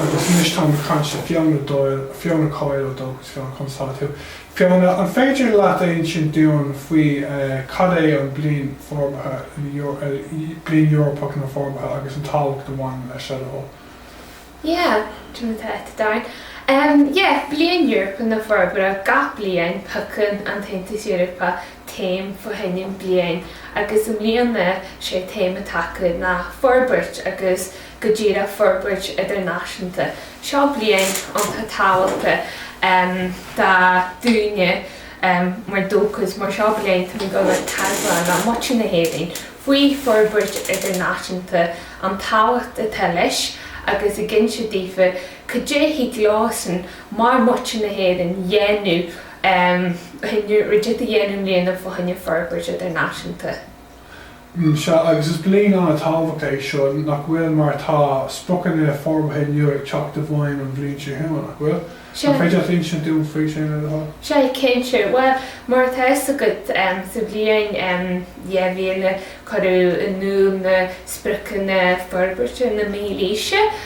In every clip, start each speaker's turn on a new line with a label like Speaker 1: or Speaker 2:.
Speaker 1: Agus anois táim ag caint le Fiona Doyle, Fiona Coyle ó Dóchas, Fiona, conas tá tú? Fiona, an féidir leat a insint dúinn faoi cad é an Bliain Forbartha, Bliain Eorpach na Forbartha agus an tábhacht a bhaineann leis seo do thoil?
Speaker 2: Yeah, cad é mar atá tú Darren? Em, yeah, Bliain Eorpach na Forbartha, gach bliain piocann an tAontas Eorpach téama fá choinne an bliain agus i mbliana sé téama atá acu ná forbairt agus, go díreach forbairt idirnáisiúnta. Seo bliain iontach tábhachtach do, dúinne mar Dóchas mar seo bliain tá muid ag teagmháil le muintir na hÉireann faoi forbairt idirnáisiúnta, an tábhacht atá leis agus ag inse daofa cad é a thig leosan mar muintir na hÉireann dhéanamh, dhéanamh, rud a dhéanamh i mbliana fá choinne forbairt idirnáisiúnta.
Speaker 1: Sea, agus is bliain an-tábhachtach é seo, nach bhfuil? Mar tá spriocanna forbartha nua ag teacht i bhfeidhm an bhliain seo chugainn, nach bhfuil? An féidir leat insint dúinn faoi sin, le do thoil? Sea,
Speaker 2: cinnte. Bhuel, mar atá fhios agat, sa bhliain 2000 cuireadh in iúl na spriocanna forbartha na Mílaoise.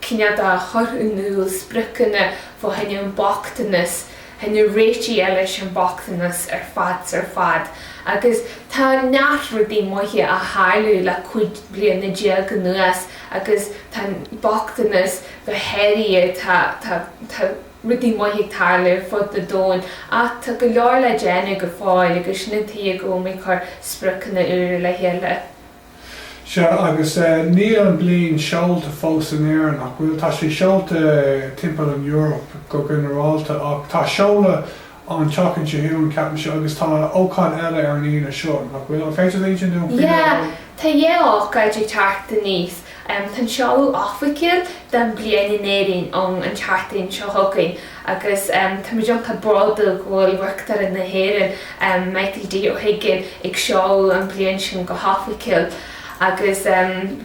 Speaker 2: cinneadh a chur in iúl, spriocanna fá choinne an bochtanas, choinne réitigh eile leis an mbochtanas ar fad 's ar fad. Agus tá neart rudaí maithe a tharlaigh le cúig bliana déag anuas agus tá an bochtanas go háirithe, tá, tá, tá rudaí maithe ag tarlú ar fud na domhain ach tá go leor le déanamh go fóill agus sin an tuige go bhfuil muid ag cur spriocanna úra le chéile.
Speaker 1: Sea, agus níl an bliain seolta fós in Éirinn, ach bhuel, tá sé seolta timpeall an Eoraip go ginearálta. Ach tá seoladh an tseachtain seo chugainn, ceapaimse, agus tá ócáid eile ar an Aoine seo, nach bhfuil? An féidir leat insint dúinn faoi le do thoil?
Speaker 2: Sea, tá dhá ócáid ag teacht aníos. Tá an seoladh oifigiúil don bhliain in Éirinn ann an tseachtain seo chugainn agus táimid iontach bródúil go bhfuil Uachtarán na hÉireann, Michael D. Ó hUiginn, ag seoladh an bhliain sin go hoifigiúil agus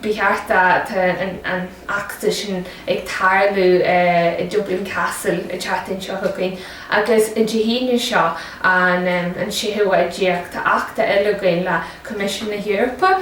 Speaker 2: beidh eachtra, tá an eachtra sin ag tarlú i Dublin Castle an tseachtain seo chugainn agus Dé hAoine seo an 16ú tá eachtra eile againn le Coimisiún na hEorpa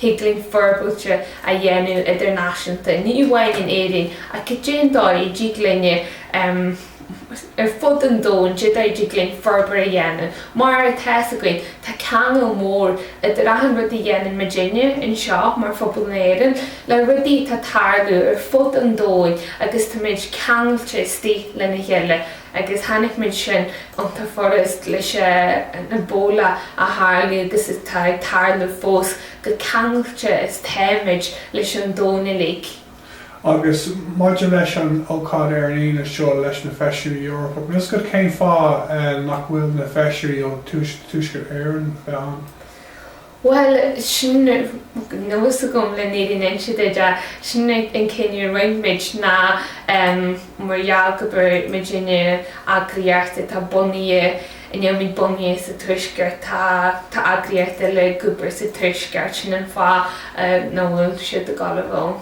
Speaker 2: Thig linn forbairt a dhéanamh idirnáisiúnta, ní amháin in Éirinn ach cad é an dóigh a dtig linn ar fud an domhain, cad é an dóigh a dtig linn forbairt a dhéanamh mar atá a fhios againn. Tá ceangal mór idir achan rud a dhéanann muid inniu anseo mar phobal na hÉireann le rudaí atá ag tarlú ar fud an domhain agus tá muid ceangailte istigh lena chéile. agus chonaic muid sin i ndáiríre leis an Ebola a tharlaigh agus atá ag tarlú fós chomh ceangailte is táimid leis an domhan uilig.
Speaker 1: Agus maidir leis an ócáid ar líne seo leis na Feisirí Eorpach, anois cén fáth nach bhfuil na Feisirí ó Thuaisceart Éireann le bheith ann.
Speaker 2: Bhuel, sin níl a fhios agam leis an fhírinne a inse duit, sin an cinneadh a rinne muid ná mar gheall gur muidne eagraíocht atá bunaithe, a nílimid bunaithe sa Tuaisceart, tá eagraíocht eile ag obair sa Tuaisceart, sin an fáth nach bhfuil siad ag dul a bheith ann.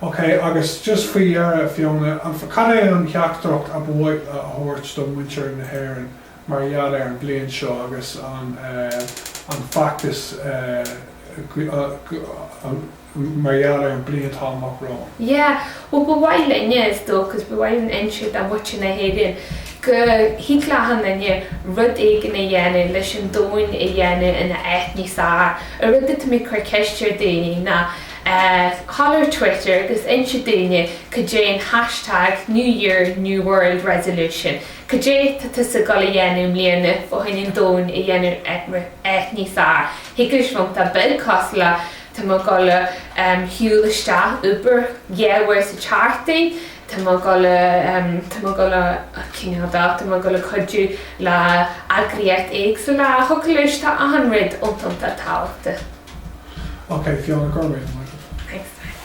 Speaker 2: OK, agus
Speaker 1: just faoi dheireadh, Fiona, cén teachtaireacht ab áil leat a thabhairt do mhuintir na hÉireann? mar gheall ar an bhliain seo agus an feachtas mar gheall ar an bhliain atá amach romhainn. Yeah, bhuel ba
Speaker 2: mhaith linne Dóchas ba mhaith linn inse do mhuintir na hÉireann, go dtig le achan duine rud éigin a dhéanamh leis an domhain a dhéanamh ina áit níos fearr. An rud a táimid ag cur ceist ar daoine ná a ghabháil ar Twitter agus inse dúinn cad é an hashtag New Year New World Resolution Cad é tá tusa ag dul a dhéanamh i mbliana fá choinne an domhan a dhéanamh níos fearr? Thiocfadh leis bheith iontach beag cosúil le, tá mé ag dul a shiúl isteach ag obair, ag dul sa charr, tá mé ag dul a, tá mé ag dul a cineál de, tá mé ag dul a chuidiú le eagraíocht éagsúla, thiocfadh leis, tá achan rud iontach tábhachtach. Okay, Fiona, go raibh maith agat.
Speaker 1: Thanks, bye.